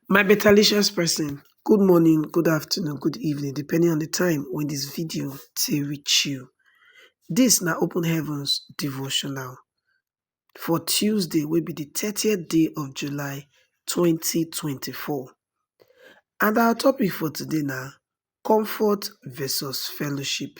My betalicious person, good morning, good afternoon, good evening depending on di time wey dis video take reach you. Dis na open heavens devotional for Tuesday wey be di thirtieth day of July twenty twenty four and our topic for today na comfort versus fellowship.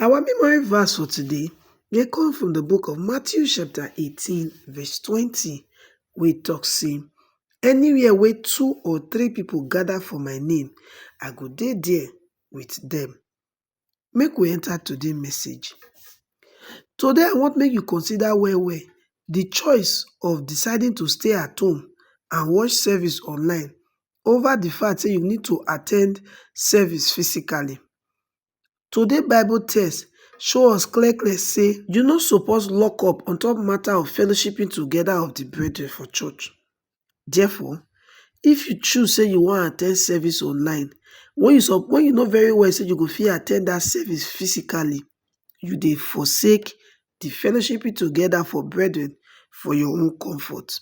Our memory verse for today dey come from the book of Matthew chapter 18 verse 20 wey talk say anywhere wey two or three people gather for my name I go dey there with them. Make we enter today message. Today I want make you consider well well the choice of deciding to stay at home and watch service online over the fact say you need to attend service physically. Today Bible text show us clear clear say you no suppose lock up on top matter of fellowshipping together of the brethren for church. Therefore, if you choose say you wan attend service online, when you sup when you know very well say you go fit attend that service physically, you dey forsake the fellowshipping together for brethren for your own comfort.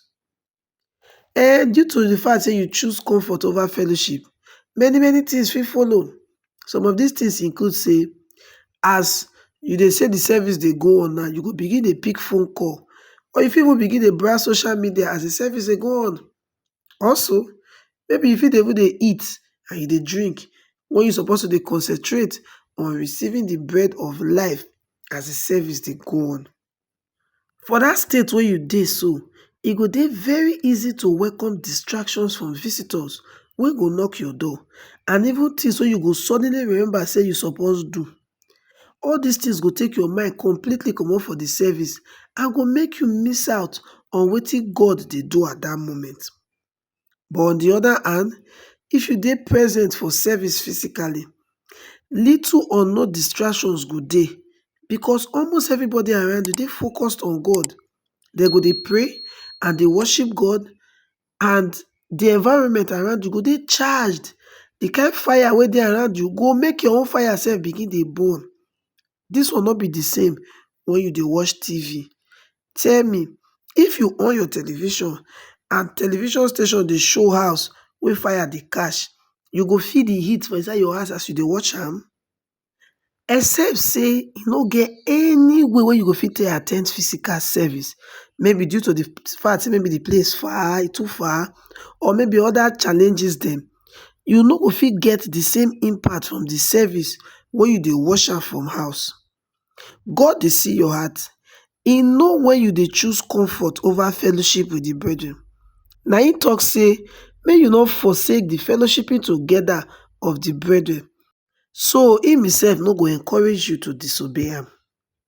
um Due to di fact sey you choose comfort over fellowship, many many tins fit follow. Some of dis tins include sey, as you dey see di service dey go on now, you go begin dey pick phone call or you fit even begin dey browse social media as di service dey go on. Also, maybe you fit dey even dey eat and you dey drink wen you suppose to dey concentrate on receiving di bread of life as di service dey go on. For dat state wey you dey so, e go dey very easy to welcome distractions from visitors wey go knock your door and even things wey you go suddenly remember sey you suppose do. All dis things go take your mind completely comot for de service and go make you miss out on wetin God dey do at dat moment. but on di oda hand if you dey present for service physically little or no distractions go dey because almost everybody around you dey focused on God, dem go dey pray and dey worship God and di environment around you go dey charged, di kain fire wey dey around you go make your own fire sef begin dey burn Dis one no be di same wen you dey watch TV. Tell me, if you on your television and television station dey show house wey fire dey catch, you go feel di heat for inside your house as you dey watch am? Except sey e no get any way wey you go fit take at ten d physical service, maybe due to di fact sey maybe di place far, e too far or maybe oda challenges dem, you no go fit get di same impact from di service wen you dey watch am from house. God dey see your heart, e know wen you dey choose comfort over fellowship with di brethren. Na im talk sey make you no forsake di fellowshipping together of di brethren so im himself no go encourage you to disobey am.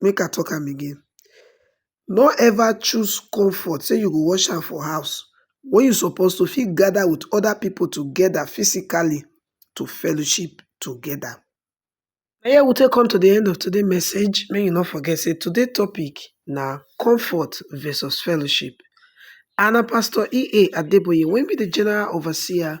make I talk am again, no ever choose comfort sey you go wash hand for house wen you suppose to fit gather with other pipu together physically to fellowship together. Na here we take come to de end of today message, make you no forget sey today topic na comfort versus fellowship and na pastor EA Adeboye wey be de general overseer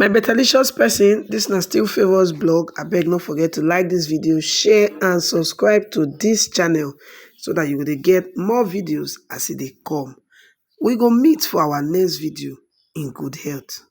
my betalicious person this na still favours blog abeg no forget to like this video share and subscribe to this channel so that you will get more videos as they e come we go meet for our next video in good health